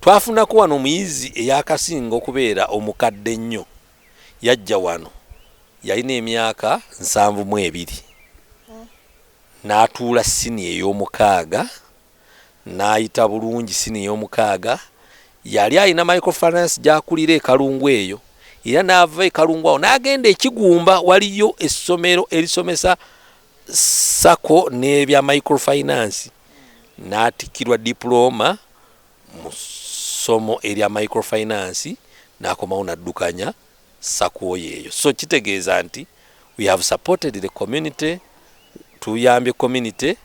Twafunako wano omuyizi eyaakasinga okubeera omukadde ennyo. Yajja wano yalina emyaka nsanvu mu ebiri n'atuula siniya ey'omukaaga n'ayita bulungi siniya ey'omukaaga. Yali alina microfinance gy'akulira e Kalungu eyo era n'ava e Kalungu awo n'agenda e Kigumba waliyo essomero erisomesa sacco n'ebya microfinance n'atikkirwa dipulooma. mu ssomo erya microfinance nakomawo naddukanya sakuo yeeyo so kitegeeza nti we have supported the community tuyambye community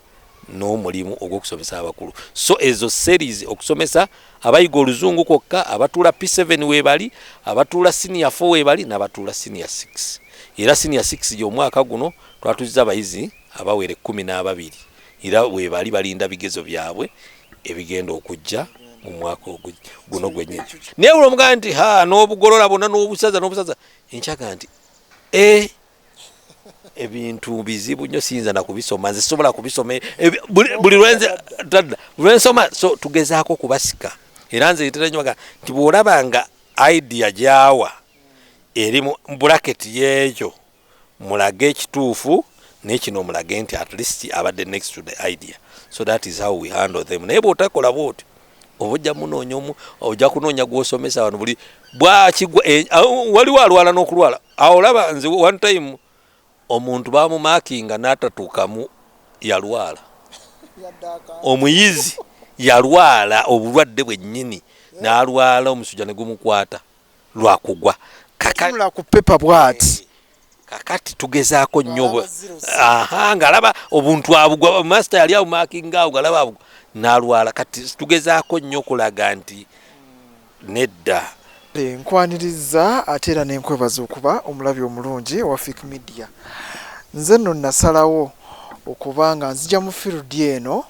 n'omulimu ogw'okusomesa abakulu so ezo series okusomesa abayiga oluzungu kwokka abatuula p7 webali abatuula senior 4 webali n'abatuula senior 6 era senior 6 gy'omwaka guno twatuzza abayizi abawere kumi n'ababiri Era webali balinda bigezo byabwe ebigenda okujja mu mwaka guno gwennyini naye buli omugamba nti ha n'obugolola bonna n'obusaza n'obusaza enkyaga nti e ebintu bizibu nnyo siyinza na kubisoma nze sisobola kubisoma buli lwensoma so tugezaako okubasika era nze etera nyo baga nti bw'olaba nga idea gyawa eri mu bulaketi y'ekyo mulage ekituufu naye kino mulage nti at least abadde next to the idea so that is how we handle them naye bwotakola bwotyo oba ojja munoonya omu ojja kunoonya gwosomesa wano buli bwakigwa eh, waliwo alwala n'okulwala awo olaba nze one time omuntu bamumakinga n'atatuukamu yalwala omuyizi yalwala obulwadde bwennyini n'alwala omusujja ne gumukwata lwakugwa katunula ku pepa bwati eh, kakati tugezaako nnyo ng'alaba obuntu abugwa masita yali awumakingaawo ng'alaba abugwa n'alwala kati tugezaako nnyo okulaga nti nedda nkwaniriza ate era nenkwebaza okuba omulabi omulungi wa fik media nze nno nasalawo okuba nga nzija mu field eno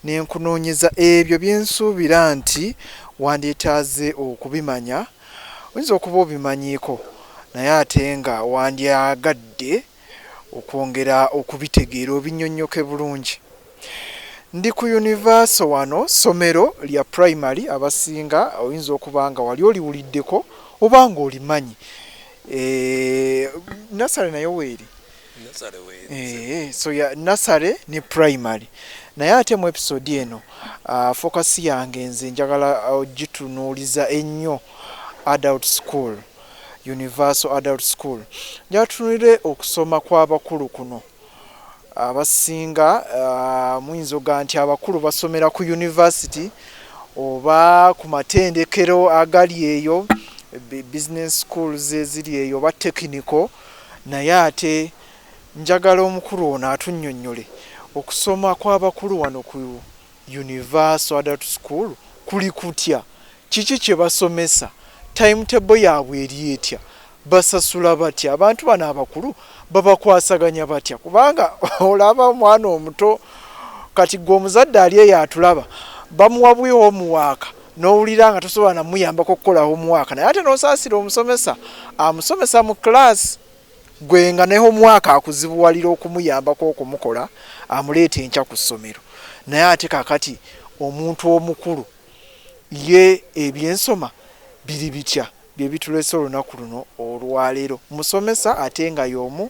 Ne nkunoonyeza ebyo bye nsuubira nti wandyetaaze okubimanya. Oyinza okuba obimanyiiko, naye ate nga wandyagadde okwongera okubitegeera obinnyonnyoke bulungi. Ndi ku yunivaaso wano, ssomero lya primary, abasinga oyinza okuba nga wali oliwuliddeko oba nga olimanyi. Eeh, nursery nayo weeri? Eh, so ya nasale ne primary naye ate mu episode eno uh, focus yange nze njagala ogitunuuliza uh, ennyo adult school universal adult school njatunulire okusoma kw'abakulu kuno abasinga uh, muyinza oga nti abakulu basomera ku university oba ku matendekero agali eyo business schools eziri eyo oba technical Naye ate njagala omukulu ono atunnyonnyole okusoma kw'abakulu wano ku Universal Adult School kuli kutya? Kiki kye basomesa? Timetable yaabwe eri etya? Basasula batya? Abantu bano abakulu babakwasaganya batya? Kubanga olaba omwana omuto kati ggwe omuzadde ali eyo atulaba bamuwa buwi homuwaaka, n'owulira nga tosobola namuyambako okukola homuwaaka naye ate n'osaasira omusomesa amusomesa mu kiraasi gwe nga ne homuwaaka akuzibuwalira okumuyambako okumukola amuleeta enkya ku ssomero naye ate kakati omuntu omukulu ye ebyensoma biri bitya bye bitulese olunaku luno olwaleero musomesa ate nga y'omu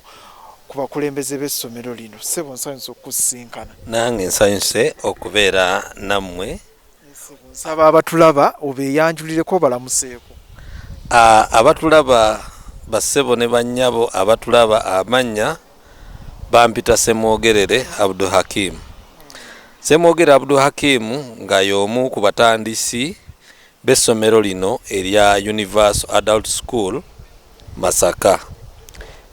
ku bakulembeze b'essomero lino ssebo nsanyuse okukusisinkana nange nsanyuse okubeera nammwe nsaba abatulaba obeeyanjulireko obalamuseeko abatulaba bassebo ne bannyabo abatulaba amannya bampita semwogerere abdu hakim semwogerere abdu hakim nga y'omu ku batandisi b'essomero lino erya universal adult school masaka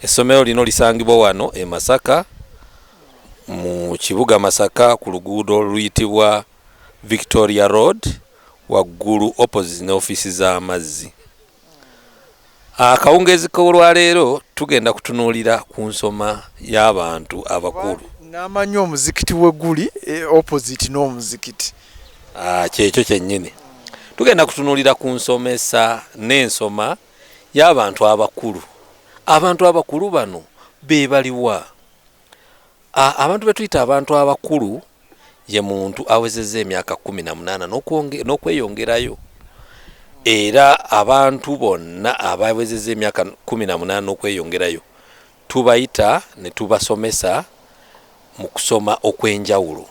essomero lino lisangibwa wano e masaka mu kibuga masaka ku luguudo oluyitibwa Victoria Road waggulu opposite ne ofiisi z'amazzi. Akawungeezi k'olwaleero tugenda kutunuulira ku nsoma y'abantu abakulu. Namanyi omuzikiti we guli e, opposite n'omuzikiti. Ah, kyekyo kyennyini. Tugenda kutunuulira ku nsomesa n'ensoma y'abantu abakulu. Abantu abakulu bano be baliwa? Abantu be tuyita abantu abakulu ye muntu awezezza emyaka kkumi na munaana n'okweyongerayo era abantu bonna abawezezza emyaka kkumi na munaana n'okweyongerayo tubayita ne tubasomesa mu kusoma okw'enjawulo.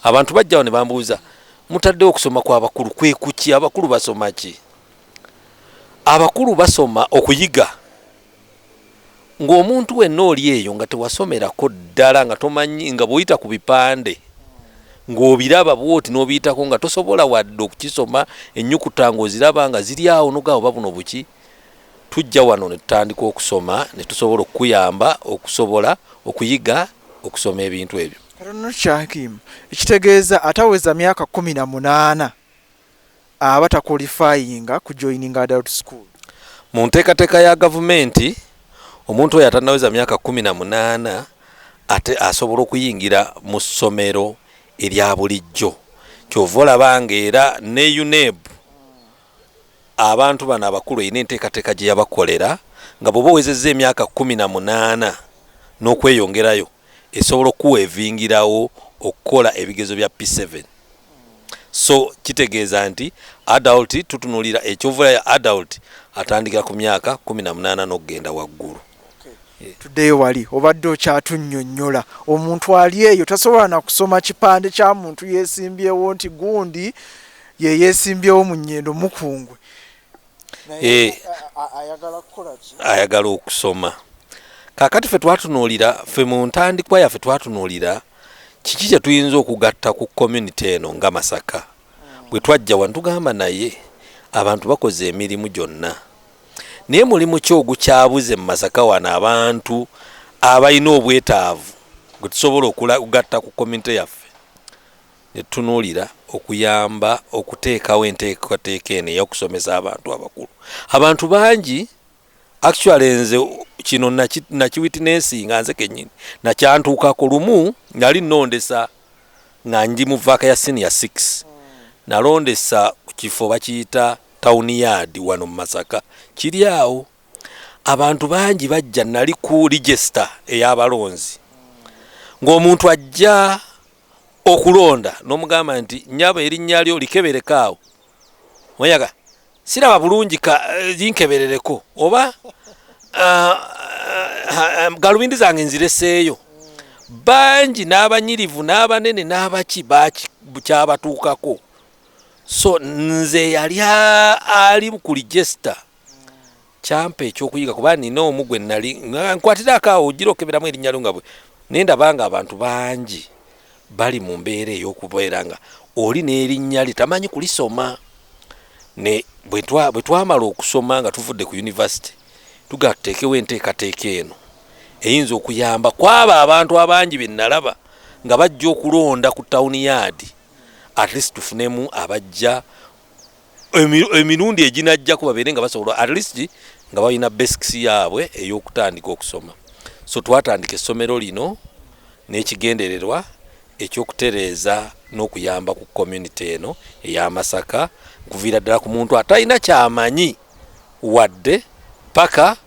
Abantu bajja wano ne bambuuza mutaddewo okusoma kw'abakulu kwe kuki abakulu basoma ki? Abakulu basoma okuyiga ng'omuntu wenna oli eyo nga tewasomerako ddala nga tomanyi nga bwoyita ku bipande ng'obiraba bwoti n'obiyitako nga tosobola wadde okukisoma ennyukuta ng'oziraba nga ziri awo nogaa oba buno buki tujja wano ne tutandika okusoma ne tusobola okukuyamba okusobola okuyiga okusoma ebintu ebyo ekitegeeza ataweza myaka kumi na munaana aba takwolifayinga kujoyininga adult school. Mu nteekateeka ya Gavumenti, omuntu oyo atannaweza myaka kkumi na munaana ate asobola okuyingira mu ssomero erya bulijjo. Ky'ova olaba ng'era ne UNEB abantu bano abakulu erina enteekateeka gye yabakolera nga bw'oba owezezza emyaka kkumi na munaana n'okweyongerayo esobola okukuweevingirawo okukola ebigezo bya P-seven. So kitegeeza nti adult tutunulira ekyovulayo adult atandikira ku myaka kumi na munaana n'okugenda waggulu. Tuddeyo wali obadde okyatunnyonnyola. Omuntu ali eyo tasobola na kusoma kipande kya muntu yeesimbyewo nti gundi ye yeesimbyewo mu Nyendo, Mukungwe. eh. ayagala okusoma kakati fe twatunuulira fe mu ntandikwa yaffe twatunuulira kiki kye tuyinza okugatta ku community eno nga masaka hmm. bwe twajja wano tugamba naye abantu bakoze emirimu gyonna naye mulimu ki ogukyabuze mu masaka wano abantu abalina obwetaavu gwe tusobola okugatta ku community yaffe ne tutunuulira okuyamba okuteekawo enteekateeka eno ey'okusomesa abantu abakulu. Abantu bangi actually nze kino nakiwitinesinga nze kenyini nakyantuukako lumu nali nondesa nga ndi mu vaaka ya senior 6 nalondesa ku kifo bakiyita town yard wano mu masaka kiri awo abantu bangi bajja nali ku register ey'abalonzi ng'omuntu ajja okulonda nomugamba nti nyabo erinnya lyo likebereko awo oyaga siraba bulungi ka eh, linkeberereko oba uh, uh, galubindi zange nzireseeyo bangi n'abanyirivu n'abanene n'abaki kyabatuukako so nze yali ali ku ligesta kyampa ekyokuyiga kuba nina omu gwe nali nkwatirako awo ojira okeberamu erinnya lyo nga bwe naye ndabanga abantu bangi bali mu mbeera ey'okubeera nga oli n'erinnya lye tamanyi kulisoma ne bwe twamala okusoma nga tuvudde ku yunivasite tuga tuteekewo enteekateeka eno eyinza okuyamba kwaba abantu abangi be nalaba nga bajja okulonda ku tawuni yaadi at least tufunemu abajja emirundi eginajjako babeere nga basobola at least nga balina basics yaabwe ey'okutandika okusoma so twatandika essomero lino n'ekigendererwa ekyokutereeza n'okuyamba ku community eno eya masaka nkuviira ddala ku muntu atalina kyamanyi wadde paka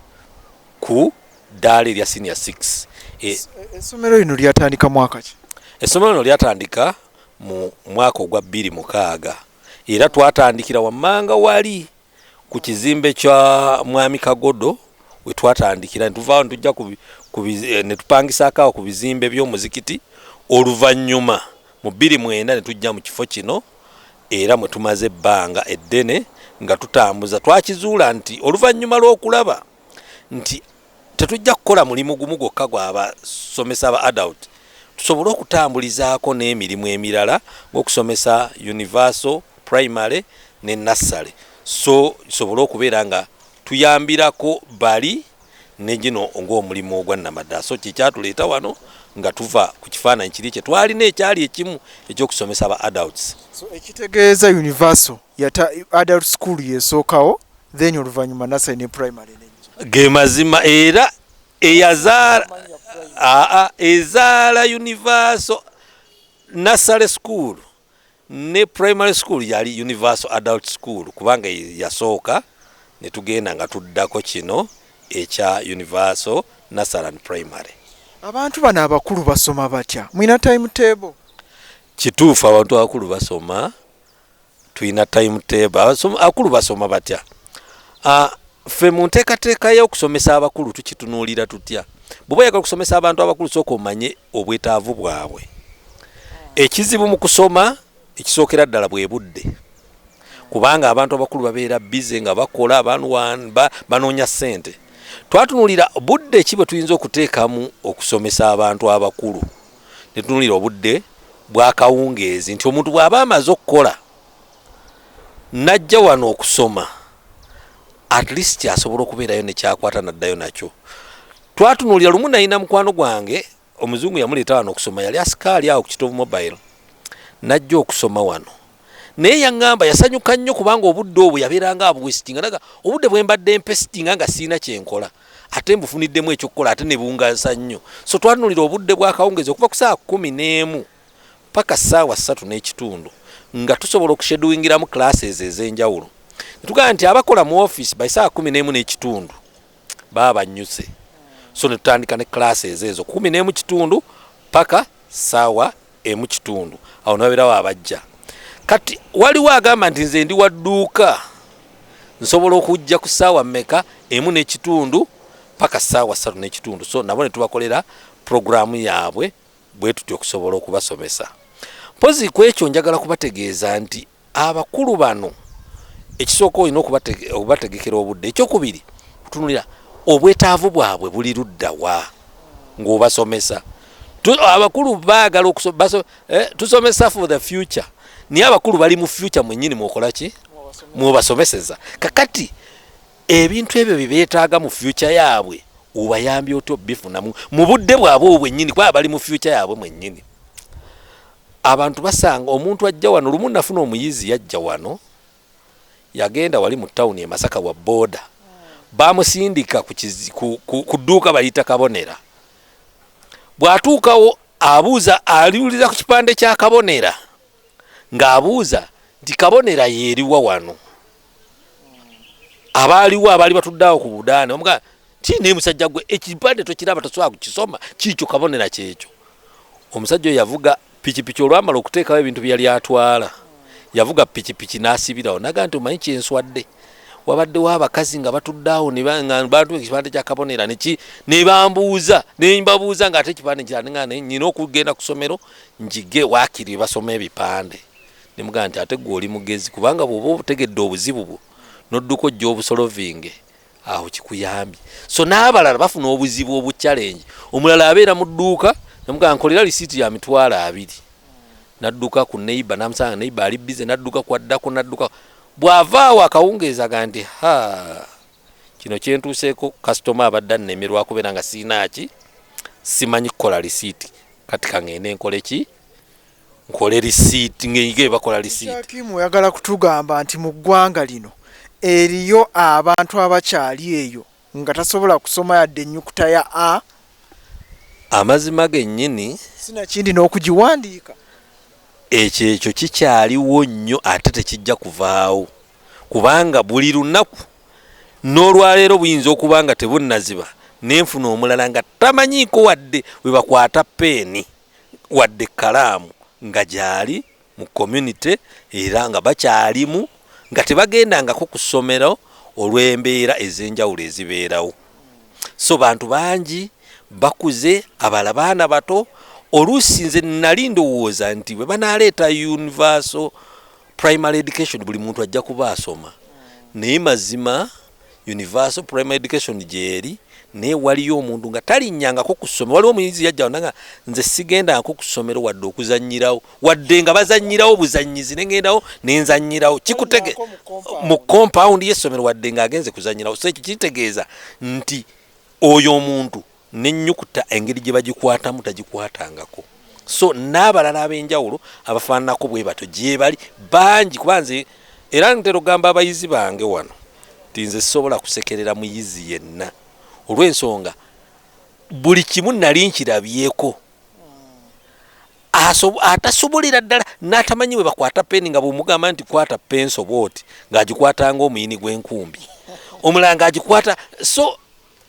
ku ddaala erya senior six e, essomero lino lyatandika mwaka ki essomero lino lyatandika mu mwaka ogwa bbiri mukaaga era twatandikira wammanga wali ku kizimbe kya mwami kagodo wetwatandikira netuvaawo netujja eh, netupangisaako awo ku bizimbe by'omuzikiti oluvannyuma mu bbiri mwenda netujja mu kifo kino era mwe tumaze ebbanga eddene nga tutambuza twakizuula nti oluvannyuma lw'okulaba nti Tetujja kukola mulimu gumu gwokka gwa basomesa ba adult tusobole okutambulizaako n'emirimu emirala ng'okusomesa Universal, Primary ne Nursery so tusobole okubeera nga tuyambirako bali ne gino ng'omulimu ogwa nnamaddala so kye kyatuleeta wano nga tuva ku kifaananyi kiri kye twalina ekyali ekimu eky'okusomesa ba adults. So ekitegeeza Universal yata adult school y'esookawo then oluvanyuma nasale ne primary nejja gemazima era eyazaala aa ezaala universal nasale school ne primary school yali universal adult school kubanga yasooka netugenda nga tuddako kino ekya universal nasale and primary abantu bano abakulu basoma batya mwina time table kituufu abantu abakulu basoma tulina time table akulu basoma batya ah, ffe mu nteekateeka y'okusomesa abakulu tukitunuulira tutya bw'oba oyagala okusomesa abantu abakulu sooka omanye obwetaavu bwabwe ekizibu mu kusoma ekisookera ddala bwe budde kubanga abantu abakulu babeera bize nga bakola banoonya ssente twatunuulira budde ki bwe tuyinza okuteekamu okusomesa abantu abakulu ne tunuulira obudde bw'akawungeezi nti omuntu bw'aba amaze okukola n'ajja wano okusoma at least asobola okubeerayo nekyakwata naddayo nakyo twatunuulira lumu nayina mukwano gwange omuzungu yamuleeta wano okusoma yali asikaali awo ku kitovu mobile najja okusoma wano naye yaŋŋamba yasanyuka nnyo kubanga obudde obwo yabeeranga abuwesitinga naga obudde bwe mbadde mpesitinga nga sirina kye nkola ate mbufuniddemu ekyokukola ate ne bungaza nnyo so twanulira obudde bw'akawungeezi okuva ku saawa kumi n'emu paka saawa ssatu n'ekitundu nga tusobola okusheduwingiramu classes ez'enjawulo ne tugamba nti abakola mu ofiisi by saawa kumi n'emu n'ekitundu baba bannyuse so netutandika ne class ezo ezo kumi nemu kitundu paka sawa emu kitundu awo nababerawo abajja kati waliwo agamba nti nze ndi wadduuka nsobola okujja ku saawa meka emu nekitundu paka saawa satu nekitundu so nabo netubakolera programu yaabwe bwetutya okusobola okubasomesa mpozi kwekyo njagala kubategeeza nti Abakulu bano ekisooka olina okubategekera obudde, ekyokubiri kutunulira obwetaavu bwabwe buli luddawa ng'obasomesa. Abakulu baagala eh, tusomesa for the future, naye abakulu bali mu future mwenyini mwokola ki mwobasomeseza kakati ebintu ebyo byebeetaaga mu fyuca yaabwe obayambye otya obifunamu mu budde bwabwe obwo bwennyini kuba bali mu fyuca yaabwe mwennyini abantu basanga omuntu ajja wano lumu nafuna omuyizi yajja wano yagenda wali mu tawuni e masaka wa booda bamusindika ku dduuka bayita kabonera bw'atuukawo abuuza aliwulira ku kipande kya kabonera ng'abuuza nti kabonera yeeriwa wano abaaliwo abaali batudde awo ku budaani omuga ti naye musajja gwe ekipande tokiraba tosobola kukisoma kiikyo kabonera kyekyo omusajja oyo yavuga pikipiki olwamala okuteekawo ebintu bye yali atwala yavuga pikipiki n'asibirawo naga nti omanyi kyenswadde wabaddewo abakazi nga batudde awo bantu ekipande kya kabonera neki ne bambuuza ne mbabuuza ng'ate ekipande kyanenga nyina okugenda ku ssomero njige waakiri basoma ebipande Ne mugamba nti, Ate ggwe oli mugezi, kubanga bw'oba obutegedde obuzibu bwo n'odduka ojje obusolovinge, awo kikuyambye. So n'abalala bafuna obuzibu obuchallenge, omulala abeera mu dduuka ne mugamba nkolera lisiiti ya mitwalo abiri, n'adduka ku neyiba n'amusanga nga neyiba ali bbize n'adduka kw'addako n'adduka. Bw'ava awo akawungeezi aga nti, Ha, kino kye ntuuseeko, kasitoma abadde annemerwa kubeera nga sirina ki, simanyi kukola lisiiti, kati ka ŋŋende nkole ki? nkole receipt ngeyige bakola receipt Hakim oyagala kutugamba nti mu ggwanga lino eriyo abantu abakyali eyo nga tasobola kusoma yadde ennyukuta ya a amazima gennyini sinakindi n'okugiwandiika ekyo ekyo kikyaliwo nnyo ate tekijja kuvaawo kubanga buli lunaku n'olwaleero buyinza okuba nga tebunnaziba nenfuna omulala nga tamanyiiko wadde webakwata peeni wadde ekkalaamu nga gyali mu community era nga bakyalimu nga tebagendangako ku ssomero olw'embeera ez'enjawulo ezibeerawo so bantu bangi bakuze abala baana bato oluusi nze nali ndowooza nti bwe banaaleeta universal primary education buli muntu ajja kuba asoma naye mazima universal primary education gyeri naye waliyo omuntu nga talinyangako ku ssomero waliwo omuyizi yajjawo nanga nze sigendangako ku ssomero wadde okuzanyirawo wadde nga bazanyirawo buzanyizi nengendawo nenzanyirawo kikutege mu compound y'essomero wadde nga agenze kuzanyirawo so ekyo kitegeeza nti oyo omuntu n'ennyukuta engeri gye bagikwatamu tagikwatangako so n'abalala ab'enjawulo abafaananako bwe batyo gyebali bangi kuba nze era ntera okugamba abayizi bange wano nti nze sisobola kusekerera muyizi yenna olw'ensonga buli kimu nali nkirabyeko atasobolera ddala n'atamanyi bwe bakwata peeni nga bwemugamba nti kwata penso bwoti ng'agikwatanga omuyini gw'enkumbi omulala ng'agikwata so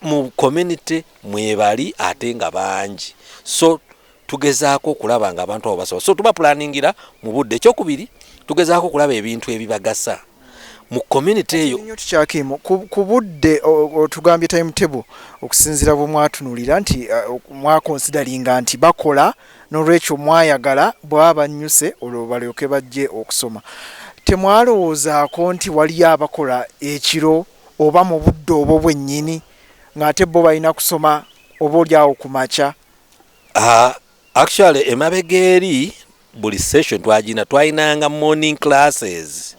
mu community mwebali ate nga bangi so tugezaako okulaba nga abantu abo basobola so tuba pulaningira mu budde ekyokubiri tugezaako okulaba ebintu ebibagasa mu community eyo tukyakimu ku budde otugambye time table okusinzira bwe mwatunulira nti uh, mwakonsidalinga nti bakola nolwekyo mwayagala bwabannyuse olwo balyoke bajje okusoma temwalowoozaako nti waliyo abakola ekiro oba mu budde obwo bwennyini ng'ate bo balina kusoma oba oli awo ku makya? Uh, actually emabega eri buli session twagina twalinanga morning classes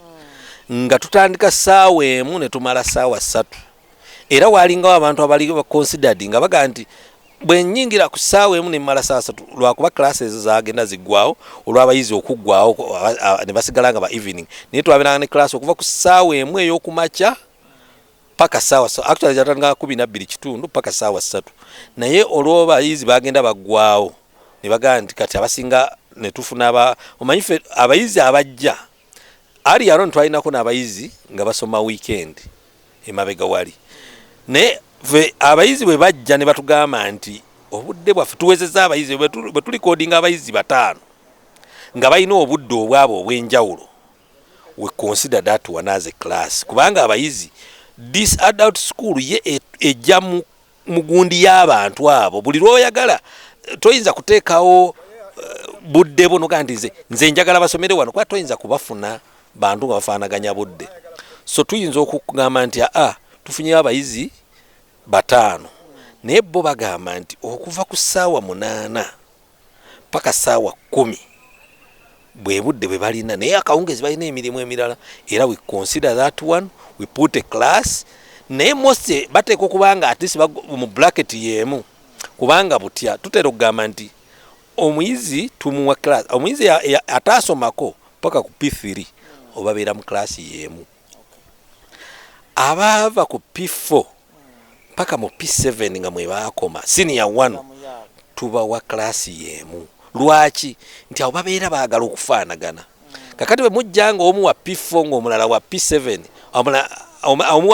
nga tutandika saawa emu ne tumala saawa ssatu era waalingawo abantu abali considered nga baga nti bwe nnyingira ku ssaawa emu ne mmala saa satu lwakuba classe ezo zagenda ziggwawo olw'abayizi okuggwawo ne basigala nga ba evening naye twabeeranga ne classe okuva ku ssaawa emu ey'okumakya paka saawa actually zatandika kumi nabbiri kitundu paka saawa ssatu naye olw'abayizi bagenda baggwawo ne bagamba nti kati abasinga ne tufuna omanyi fe abayizi abajja Ali aron twalinako n'abayizi nga basoma weekend emabega wali naye fe abayizi bwe bajja ne batugamba nti obudde bwaffe tuwezeza abayizi bwe tulikodinga abayizi bataano nga balina obudde obwabo obw'enjawulo we consider that one as a class kubanga abayizi this adult school ye e, ejja mu mu gundi y'abantu abo buli lwoyagala eh, toyinza kuteekawo eh, budde bwo nogaa nti nze njagala basomere wano kuba toyinza kubafuna bantu nga bafaanaganya budde so tuyinza okugamba nti aa tufunyewo abayizi bataano naye bo bagamba nti okuva ku ssaawa munaana paka saawa kumi bwebudde bwebalina naye akawungezi balina emirimu emirala era we consider that one we put a class naye mose bateeka okuba nga atisi mu bracket yemu kubanga butya tutera okugamba nti omuyizi tumuwa class omuyizi ataasomako paka ku p3 obabeera mu class yemu abaava ku p4 paka mu P7 nga mwe baakoma senior 1 tubawa class yemu lwaki nti abo babeera baagala okufaanagana kakati bwe mujja nga omu wa P4 nga omulala wa P7 omu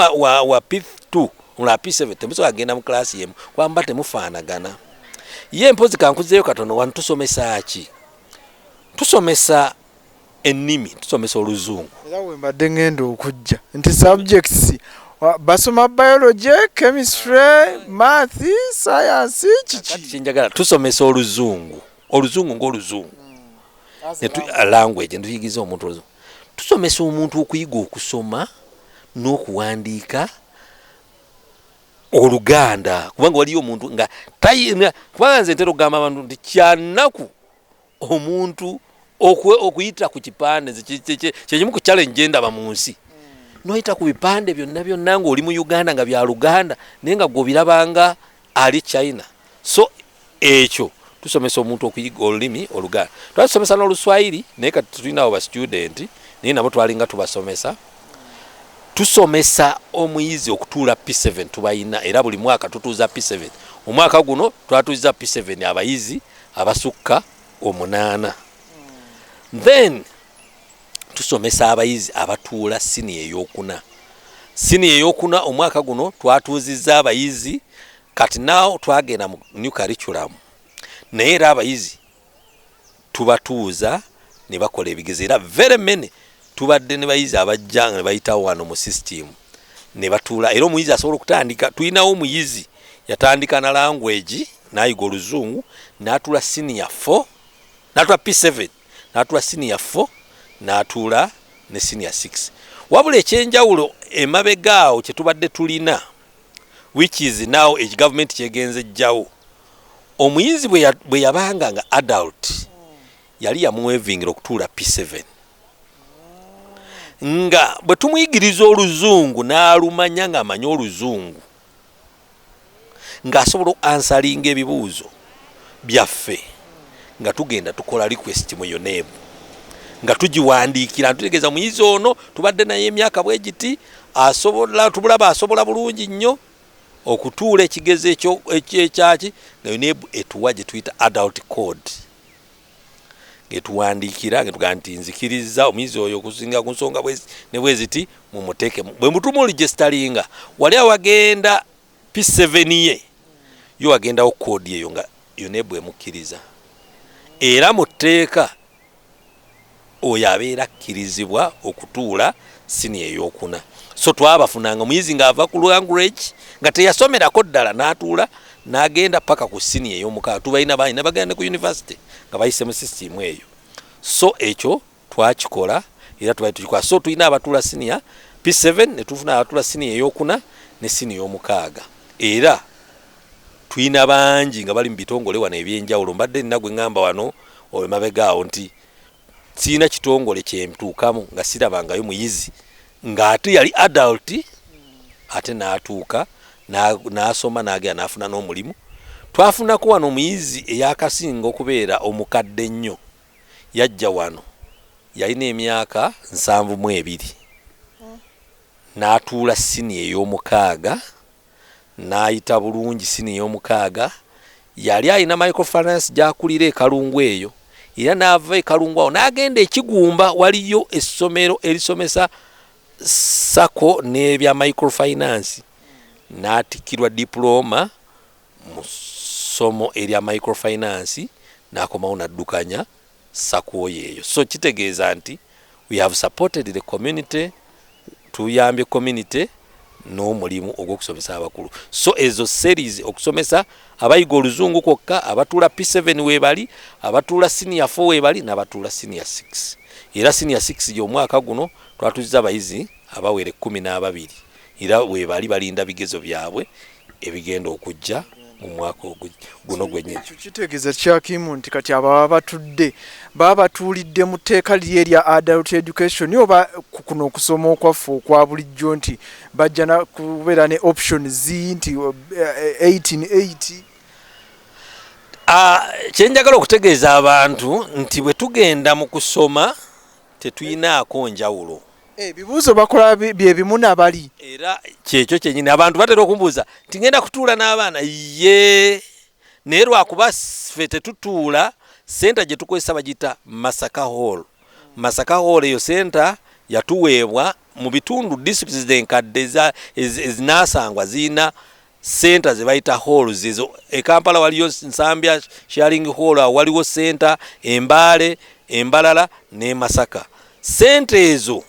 wa P2 omulala P7 temusobola kugenda mu class yemu kuba muba temufaanagana ye mpozi kankuzeeyo katono wano tusomesa ki tusomesa ennimi tusomesa oluzungu. Era wembadde ngenda okujja nti subjects basoma biology, chemistry, math, science kiki kyenjagala tusomesa oluzungu oluzungu ng'oluzungu hmm. language netuyigiza omuntu oluzungu tusomesa omuntu okuyiga okusoma n'okuwandiika oluganda kubanga waliyo omuntu nga kubanga nze ntera okugamba abantu nti kyanaku omuntu okuyita ku kipande kyekimu ku challenge gyendaba mu nsi hmm. noyita ku bipande byonna byonna nga oli mu uganda nga bya luganda naye nga gwobirabanga ali china so ekyo tusomesa omuntu okuyiga olulimi oluganda twatusomesa n'oluswayiri naye kati tulinawo ba studenti naye nabo twalinga tubasomesa tusomesa omuyizi okutuula p7 tubalina era buli mwaka tutuuza p7 omwaka guno twatuuza p7 abayizi abasukka omunaana then tusomesa abayizi abatuula siniya eyokuna siniya eyokuna omwaka guno twatuuzizza abayizi kati naw twagenda mu new curriculum naye era abayizi tubatuuza ne bakola ebigezo era very many tubadde ne bayizi abajja nga ne bayitawo wano mu system ne batuula era omuyizi asobola okutandika tulinawo omuyizi yatandika na language n'ayiga oluzungu n'atuula siniya fo n'atuula p seven n'atuula siniya fo n'atuula ne siniya six wabula ekyenjawulo emabega awo kye tubadde tulina which is now age government kyegenza ejjawo omuyizi bwe yabanga nga adult yali yamuwevingira okutuula p seven nga bwe tumuyigiriza oluzungu n'alumanya ng'amanyi oluzungu ng'asobola ansalinga ebibuuzo byaffe nga tugenda tukola request mu UNEB nga tugiwandiikira ntutegeeza omuyizi ono tubadde naye emyaka bwe giti asobola tubulaba asobola bulungi nnyo okutuula ekigezo ekyaki nga UNEB etuwa gye tuyita adult code getuwandiikira getugaa nti nzikirizza omuyizi oyo okusinga ku nsonga ne bweziti mumuteeke bwe mutuma oligestalinga wali awagenda p7 ye yo wagendawo koodi eyo nga yona ebwemukkiriza era mu tteeka Oyo abeera akkirizibwa okutuula siniya eyokuna. So twabafunanga omuyizi ng'ava ku language nga teyasomerako ddala n'atuula n'agenda paka ku siniya ey'omukaaga. Tubalina bangi nabagenda ne ku yunivasite nga bayise mu sisitiimu eyo. So ekyo twakikola era tubali tukikola. So tulina abatuula siniya P7 ne tufuna abatuula siniya eyokuna ne siniya omukaaga era tulina bangi nga bali mu bitongole wano eby'enjawulo. Mbadde nina gwe ŋŋamba wano emabega awo nti sirina kitongole kyemtuukamu nga sirabangayo muyizi ng'ate yali adult ate n'atuuka n'asoma n'agenda n'afuna n'omulimu twafunako wano omuyizi eyakasinga okubeera omukadde ennyo yajja wano yalina emyaka nsanvu mu ebiri n'atuula siniya ey'omukaaga n'ayita bulungi siniya ey'omukaaga. Yali alina microfinance gy'akulira e Kalungu eyo era n'ava e Kalungu awo n'agenda e Kigumba waliyo essomero erisomesa sacco n'ebya microfinance n'atikkirwa dipulooma mu ssomo erya microfinance n'akomawo n'addukanya sakwoyo eyo so kitegeeza nti we have supported the community tuyambye community n'omulimu ogw'okusomesa abakulu so ezo series okusomesa abayiga oluzungu kwokka abatuula p7 webali abatuula senior 4 webali n'abatuula senior 6 era senior 6 gy'omwaka guno twatuzza abayizi abawere kumi n'ababiri Era webali balinda bigezo byabwe ebigenda okujja mu mwaka guno gwenyini. Ekyo kitegeeza kyakimu nti kati abo baba batudde baba batuulidde mu tteeka liri erya adult education oba kuno okusoma okwaffe okwa bulijjo nti bajja kubeera ne option z nti 18 eh, eh, ah, kyenjagala okutegeeza abantu nti bwe tugenda mu kusoma Tetuyinaako njawulo. Ebibuuzo bakola bye bimu na bali. Era kyekyo kyenyini abantu batera okumbuuza nti ngenda kutuula n'abaana? Yee, naye lwakuba ffe tetutuula. Senta gye tukozesa bagiyita Masaka Hall. Masaka Hall eyo senta yatuweebwa mu bitundu districts enkadde ezinaasangwa zirina center ze bayita halls ezo e Kampala waliyo Nsambya sharing hall waliwo center Embale Embalala ne Masaka center ezo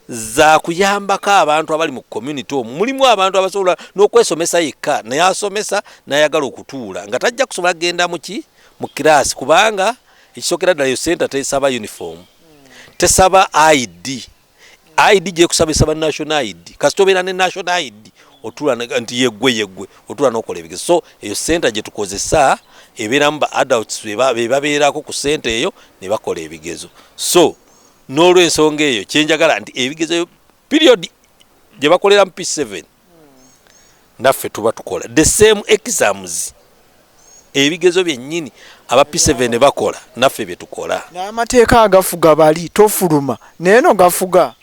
za kuyambako abantu abali mu community omu mulimu abantu abasobola n'okwesomesa yekka naye asomesa nayagala okutuula nga tajja kusobola kugenda muki mu kiraasi kubanga ekisookera ddala yo center tesaba uniform tesaba id ID gyekusabisa ba national ID kasita obeera ne national ID otula nti yeggwe yeggwe otula n'okola ebigezo so eyo senta gye tukozesa ebeeramu ba adults be babeerako ku sente eyo ne bakola ebigezo so n'olwensonga eyo kyenjagala nti ebigezo period gye bakoleramu p7 naffe tuba tukola the same exams ebigezo byennyini aba p7 bakola naffe byetukola n'amateeka agafuga bali tofuluma naye no gafuga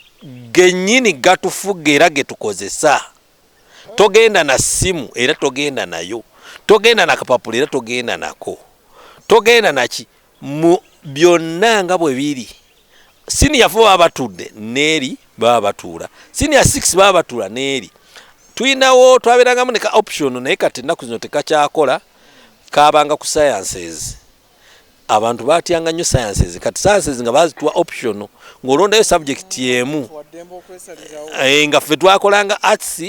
gennyini gatufuga era getukozesa togenda na ssimu era togenda nayo togenda nakapapula era togenda nako togenda naki Mu byonna nga bwe biri, siniya fo baba batudde n'eri baba batuula, siniya six baba batuula n'eri. Tulinawo twabeerangamu ne ka option naye kati ennaku zino tekakyakola, kaabanga ku sciences. Abantu baatyanga nnyo sciences, kati sciences nga baazituwa option ng'olondayo subject emu. Eh, nga ffe twakolanga arts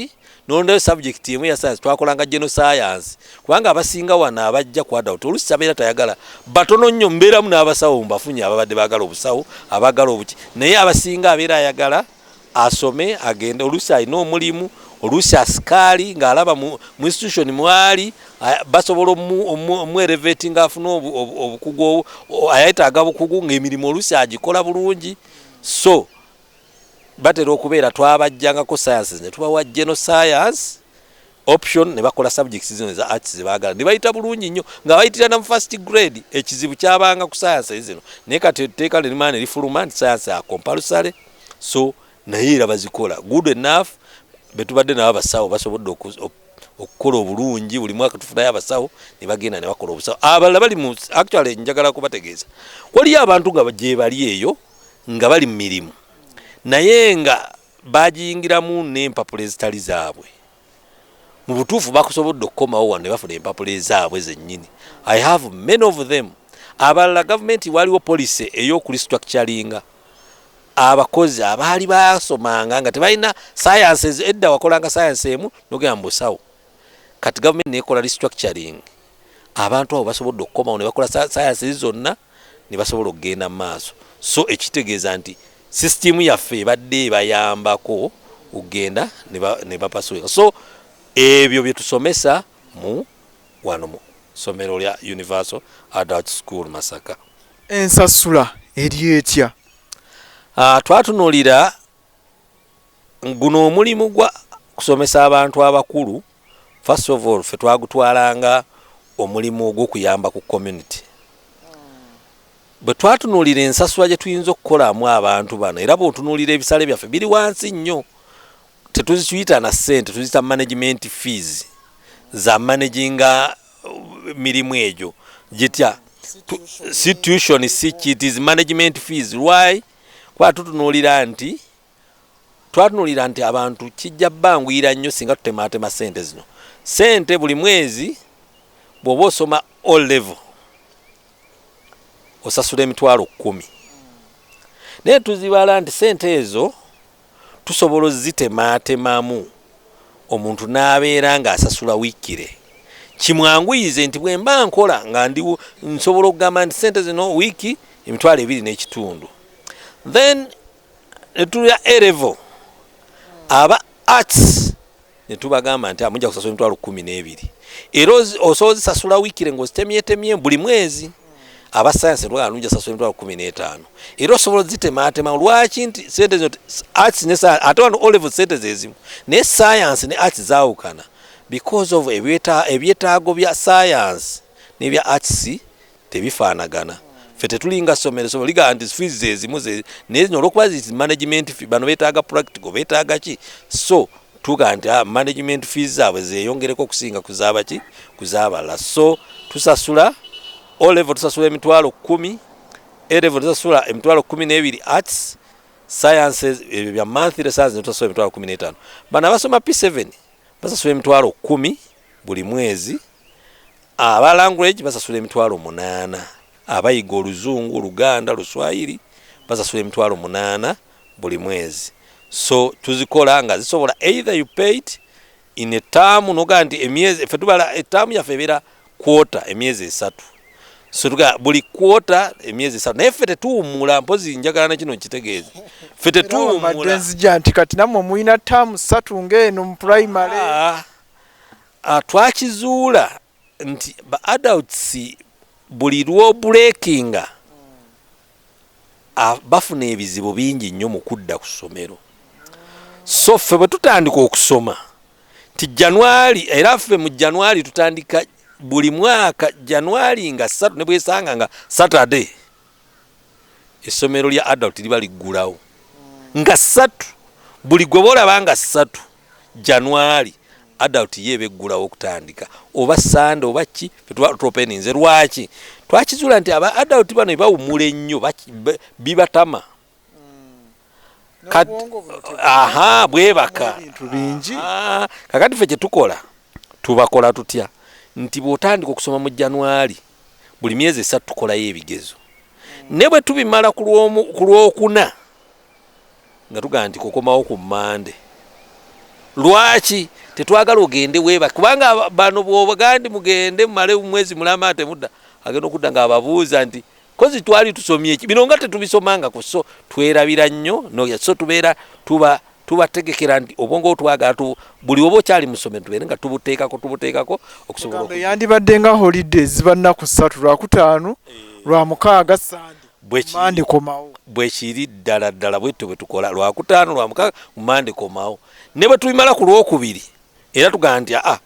nolondayo subject emu ya science twakolanga geno science kubanga abasinga wano abajja ku adult olusi sabeera tayagala batono nnyo mbeeramu n'abasawo mbafunye ababadde bagala obusawo abagala obuki naye abasinga abeera ayagala asome agende olusi alina omulimu olusi asikaali ng'alaba mu institution mwali basobola omuereveti ngaafuna obukugu ayetaaga bukugu ng'emirimu olusi agikola bulungi so batera okubeera twabajjangako sciences ne tubawa geno science option ne bakola subjects zino eza arts ze baagala ne bayita bulungi nnyo nga bayitira na mu first grade ekizibu kyabanga ku science zino naye kati etteeka lirimaa ne lifuluma nti science a compulsory so naye era bazikola good enough be tubadde nabo abasawo basobodde okukola obulungi buli mwaka tufunayo abasawo ne bagenda ne bakola obusawo abalala bali mu actually njagala kubategeeza waliyo abantu nga gyebali eyo nga bali mu mirimu naye nga bagiyingiramu n'empapula ezitali zaabwe mu butuufu bakusobodde okukomawo wano ne bafuna empapula ezaabwe zennyini i have many of them abalala gavumenti waliwo policy ey'okulistructuringa abakozi abaali basomanga nga tebalina sayansi edda wakolanga sayansi emu nogenda mu busawo kati gavumenti nekola restructuring abantu abo basobodde okukomawo ne bakola sayansi zonna ne basobola okugenda mu maaso so ekitegeeza nti sisitiimu yaffe ebadde ebayambako okugenda ne bapasuka so ebyo bye tusomesa mu wano mu ssomero lya universal adult school masaka ensasula eri etya ah, twatunulira guno omulimu gwa kusomesa abantu abakulu first of all fe twagutwalanga omulimu ogwokuyamba ku community bwe twatunuulira ensasula gye tuyinza okukolamu abantu bano era bwotunuulira ebisale byaffe biri wansi nnyo tetuzituyita na ssente tuzita management fees za managinga uh, mirimu egyo gitya situation si kit is management fees why kuba tutunuulira nti twatunuulira nti abantu kijja banguyira nnyo singa tutemaatema ssente zino ssente buli mwezi bw'oba osoma o level osasula emitwalo kkumi naye tuzibaala nti ssente ezo tusobola ozitemaatemamu omuntu n'abeera ng'asasula wiikire kimwanguyize nti bwe mba nkola nga ndi nsobola okugamba nti sente zino wiiki emitwalo ebiri n'ekitundu then netulya erevo aba arts ne tubagamba nti amujja kusasula emitwalo kkumi n'ebiri era osobola ozisasula wiikire ng'ozitemyetemye buli mwezi aba sayansi ne tubagamba nujja sasula emitwalo kkumi n'etaano era osobola ozitemaatema lwaki nti sente zino arts ne ate wano olevo sente zezimu naye sayansi ne arts zaawukana because of ebyetaago bya sayansi n'ebya arts tebifaanagana ffe tetulinga somero somero ligamba nti fees zezimu naye zino olwokuba zi management fee bano betaaga practical betaaga ki so tuga nti ah, management fees zaabwe zeyongereko okusinga kuzabaki kuzabalala so tusasula o level tusasula emitwalo kumi a level tusasula emitwalo kumi n'ebiri arts sciences ebyo bya monthly sciences netusasula emitwalo kumi n'etaano bano abasoma p7 basasula emitwalo kumi buli mwezi Aba language basasula emitwalo munaana, abayiga oluzungu, oluganda, luswayiri basasula emitwalo munaana buli mwezi. So tuzikola nga zisobola either you pay it in a term noga nti emyezi efe tubala term yafe ebera quarter emyezi esatu so tuga buli quarter emyezi esatu naye fete tuumula mpozi njagala na kino kitegeeza fete tuumula nzija nti kati namwe muyina term satu ngeno mu primary ah. Ah, twakizuula nti ba adults buli lw'obuleekinga ah, bafuna ebizibu bingi nnyo mu kudda ku ssomero so ffe bwe tutandika okusoma nti januari era ffe mu januari tutandika buli mwaka januari nga satu ne bwesanga nga saturday essomero lya adult liba liggulawo nga ssatu buli gwe boolaba nga ssatu januari adult ye eba eggulawo okutandika oba sande oba ki fetwatuopeninze lwaki twakizula nti aba adult bano ebawumula ennyo bibatama aha bwebaka bintu bingi ah, kakati fe kyetukola tubakola tutya nti bwotandika okusoma mu januari buli myezi esatu tukolayo ebigezo ne bwe tubimala ku lwokuna nga tugamba nti kukomawo ku mande lwaki tetwagala ogende weba kubanga bano bwobagandi mugende mumale mwezi mulama atemudda agenda okudda nga ababuuza nti kozi twali tusomye ki bino nga tetubisomangako so twerabira nnyo no so tubeera tuba tubategekera nti obwongo twagala tu buli oba okyali musome tubeere nga tubuteekako tubuteekako okusobola yandibadde nga holiday ziba nnaku ssatu lwakutaano eh. lwa mukaaga sande mande komawo bwekiri ddala ddala bwetyo bwe tukola lwakutaano lwa mukaaga mu mande komawo ne bwe tubimala ku lwokubiri era tugamba nti aa ah,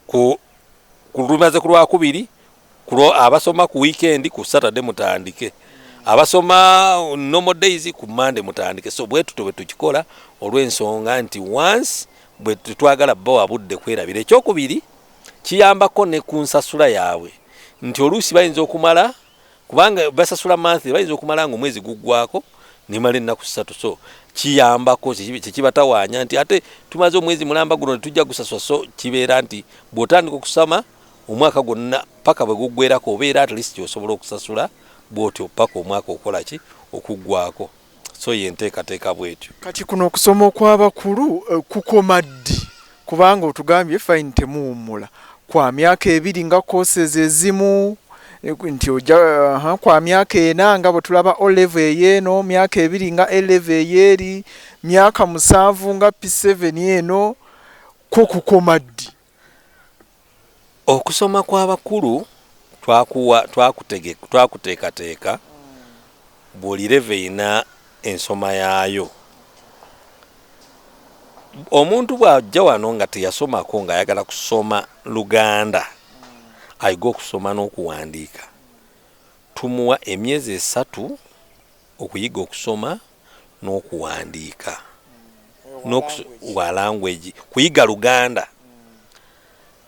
ku lumaze ku lwakubiri Kulo abasoma ku weekend ku Saturday mutandike. Abasoma normal days ku Monday mutandike. So bwetu tobe tukikola olw'ensonga nti once bwe twagala bo abudde kwerabira ekyokubiri kiyambako ne ku nsasula yaabwe nti oluusi bayinza okumala kubanga basasula manthi bayinza okumala nga omwezi guggwako nemala ennaku ssatu so kiyambako kyekibatawaanya nti ate tumaze omwezi mulamba guno netujja gusasula so kibeera nti bw'otandika okusama omwaka gwonna paka bwe guggwerako obeera at least osobola okusasula bwotyo paka omwaka okola ki okuggwako so ye nteekateeka bwetyo. Kati kuno okusoma okw'abakulu eh, kukoma ddi kubanga otugambye fine temuwummula kwa myaka ebiri nga courses ezimu eh, nti oja uh, eh, kwa myaka ena nga bwe tulaba o level eyeeno myaka ebiri nga a level eyeeri myaka musanvu nga p7 eno ko kukoma ddi Okusoma kw'abakulu twakuwa twakutege twakuteekateeka buli level erina ensoma yaayo. Omuntu bw'ajja wano nga teyasomako ng'ayagala kusoma Luganda ayige okusoma n'okuwandiika tumuwa emyezi esatu okuyiga okusoma. n'okuwandiika wa language kuyiga luganda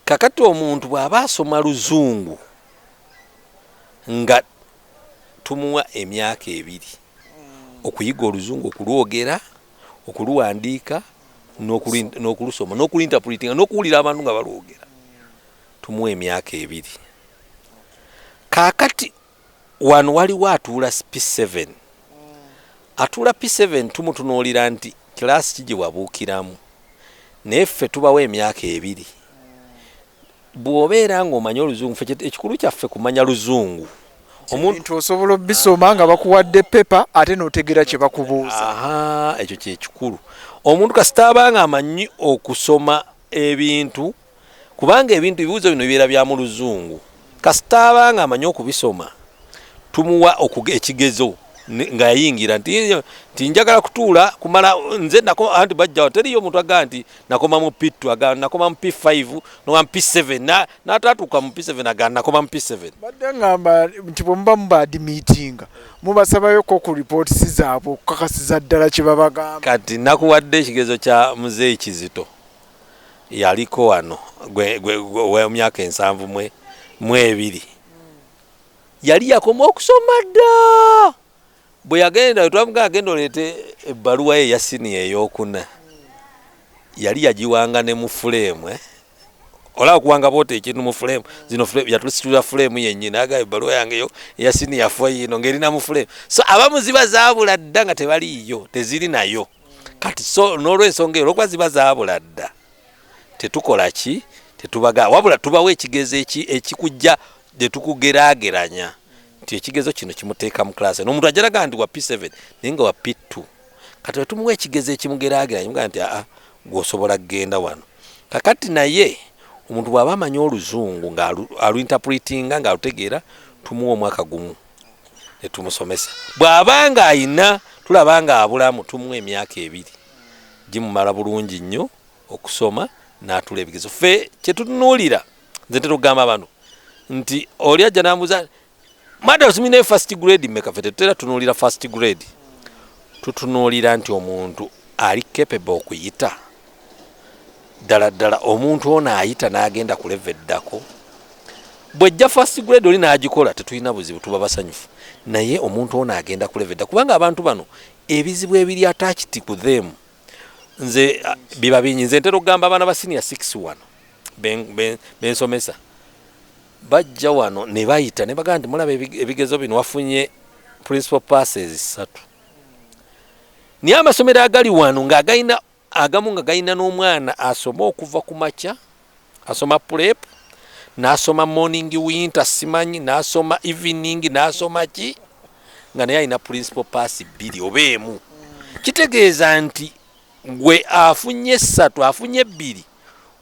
kakati omuntu bw'aba asoma luzungu nga tumuwa emyaka ebiri okuyiga oluzungu okulwogera okuluwandiika n'okulusoma n'okulintapulitinga n'okuwulira abantu nga balwogera tumuwa emyaka ebiri kakati Wano waliwo atuula P7. Atuula P7 tumutunuulira nti class ki gye wabuukiramu. Naye ffe tubawa emyaka ebiri. Bw'obeera ng'omanyi Oluzungu, ffe ekikulu kyaffe kumanya Luzungu. Ebintu osobola obisoma nga bakuwadde paper ate n'otegeera kye bakubuuza. Ahaa, ekyo kye kikulu. Omuntu kasita aba ng'amanyi okusoma ebintu. kubanga ebintu ebibuuzo bino bibeera bya mu Luzungu. Kasita aba ng'amanyi okubisoma, tumuwa ekigezo nga yayingira nti nti njagala kutuula kumala nze nako anti bajjawo teriyo omuntu agamba nti nakoma mu P2 agamba nakoma mu P5 nowa mu P7 n'ataatuuka mu P7 agamba nakoma mu P7. Badde ng'amba nti bwe muba mubaadimiitinga mubasabako ku lipootisi zaabwe okukakasiza ddala kye babagamba. Kati nakuwadde ekigezo kya Muzeeyi Kizito. yaliko wano owemyaka ensanvu mu ebiri yali yakoma okusoma dda bwe yagenda wetwamuga agenda oleete ebbaluwa ye yasiniya eyokuna yali yagiwanga ne mu fuleemu eh? olaba okuwanga boota ekintu mu fuleemu zino yatulisitulira fuleemu yennyini aga ebbaluwa yange yo eyasiniya fo yiino ng'erina mu fuleemu so abamu ziba zaabula dda nga tebaliiyo teziri nayo kati so n'olwensonga eyo olwokuba ziba zaabula dda tetukola ki tetubaga wabula tubawo ekigezo ekikujja ne tukugeraageranya nti ekigezo kino kimuteeka mu class eno omuntu ajalaga nti wa p7 naye nga wa p2 kati wetumuwa ekigezo ekimugeraageranya mugaa nti aa gwosobola kugenda wano kakati naye omuntu bw'aba amanyi oluzungu ng'aluinterpretinga ng'alutegeera tumuwa omwaka gumu ne tumusomesa bw'aba nga ayina tulaba nga abulamu tumuwa emyaka ebiri gimumala bulungi nnyo okusoma n'atula ebigezo ffe kye tutunuulira nze ntera okugamba abantu nti oli ajja n'ambuuza mada osimi naye first grade mmeka ffe tetutera tunuulira first grade tutunuulira nti omuntu ali capable okuyita ddala ddala omuntu ono ayita n'agenda ku leva eddako bwejja first grade oli n'agikola tetulina buzibu tuba basanyufu naye omuntu ono agenda ku leva edda kubanga abantu bano ebizibu ebiri atakiti ku them nze biba bingi nze ntera okugamba abaana ba senior six wano bensomesa bajja wano ne bayita ne bagamba nti mulaba ebigezo bino wafunye principal passes satu naye amasomero agali wano ng'agalina agamu nga galina n'omwana asoma okuva ku makya asoma pulep n'asoma morning winter simanyi n'asoma evening n'asoma ki nga naye alina principal pass bbiri oba emu kitegeeza nti gwe afunye essatu afunye ebbiri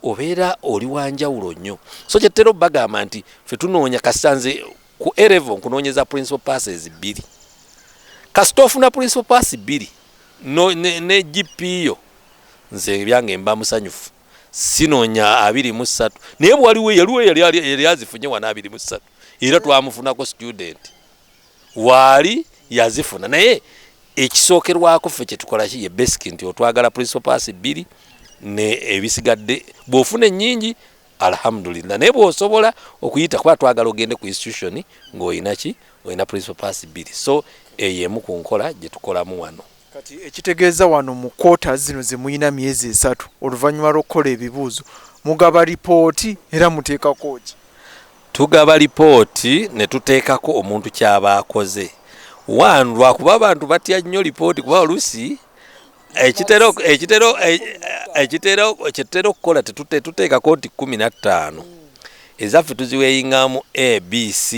obeera oli wanjawulo nnyo so kyetera obagamba nti fe tunoonya kasita nze ku erevo nkunoonyeza principal passes bbiri kasita ofuna principal pass bbiri no ne, ne GP yo nze ebyange mba musanyufu sinoonya abiri mu ssatu naye bwaliwo yaliwo yali azifunye wana abiri mu ssatu era twamufunako student waali yazifuna naye ekisookerwako ffe kyetukolaki ye basic nti otwagala principal pass bbiri ne ebisigadde bw'ofuna ennyingi alhamdulillah naye bwosobola okuyita kuba twagala ogende ku institution ng'olina ki olina principal pass bbiri so eyo emu ku nkola gye tukolamu wano kati ekitegeeza wano mu quarters zino ze mulina myezi esatu oluvannyuma lw'okukola ebibuuzo mugaba lipooti era muteekako ki tugaba lipooti ne tuteekako omuntu kyaba akoze one lwakuba abantu batya nnyo lipooti kuba oluusi ekitera ekitera ekitera ekitera okukola tetuteekako nti kumi na ttaano ezaffe tuziweyingamu abc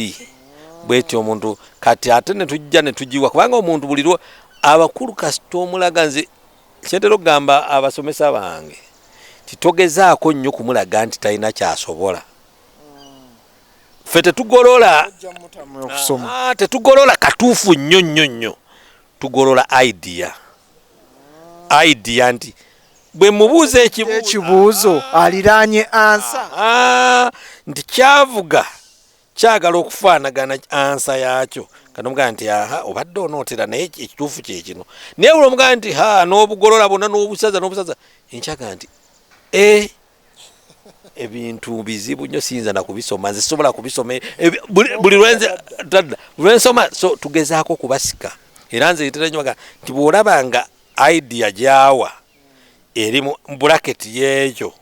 bwetyo omuntu kati ate netujja netugiwa kubanga omuntu buli lwo abakulu kasita omulaga nze kyentera okugamba abasomesa bange titogezaako nnyo kumulaga nti talina kyasobola fe tetugolola ah, tetugolola katuufu nnyo nnyo nnyo tugolola idea idea nti bwe mubuuza ekibuuzo aliraanye ansa nti kyavuga kyagala okufaanagana ansa yaakyo kati omugamba nti aha obadde onootera naye ekituufu kyekino naye buli omugamba nti ha n'obugolola bonna n'obusaza n'obusaza enkyaga nti e ebintu bizibu nyo siyinza nakubisoma nze sobola kubisoma e, e, buli lwensoma so tugezaako okubasika era nze nteranyoga nti bwolaba nga idea gyawa eri mu bracket yeekyo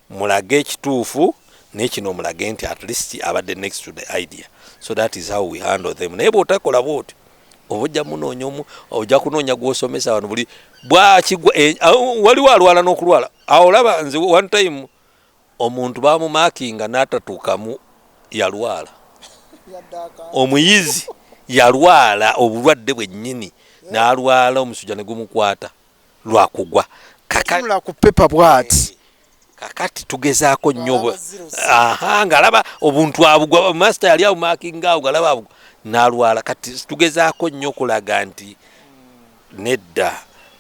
mulage ekituufu naye kino omulage nti at least abadde next to the idea so that is how we handle them naye bwotakola bwotyo oba ojja munoonya omu ojja kunoonya gwosomesa wano buli bwakigwa eh, waliwo alwala n'okulwala awo olaba nze one time omuntu bamumakinga natatuukamu yalwala omuyizi yalwala obulwadde bwennyini nalwala omusujja negumukwata lwakugwa kakanula ku pepa bwati kakati tugezaako nnyo aha ngaalaba obuntu abugwa masita yali awumakinga awo ngalaba abugwa nalwala kati tugezaako nnyo okulaga nti nedda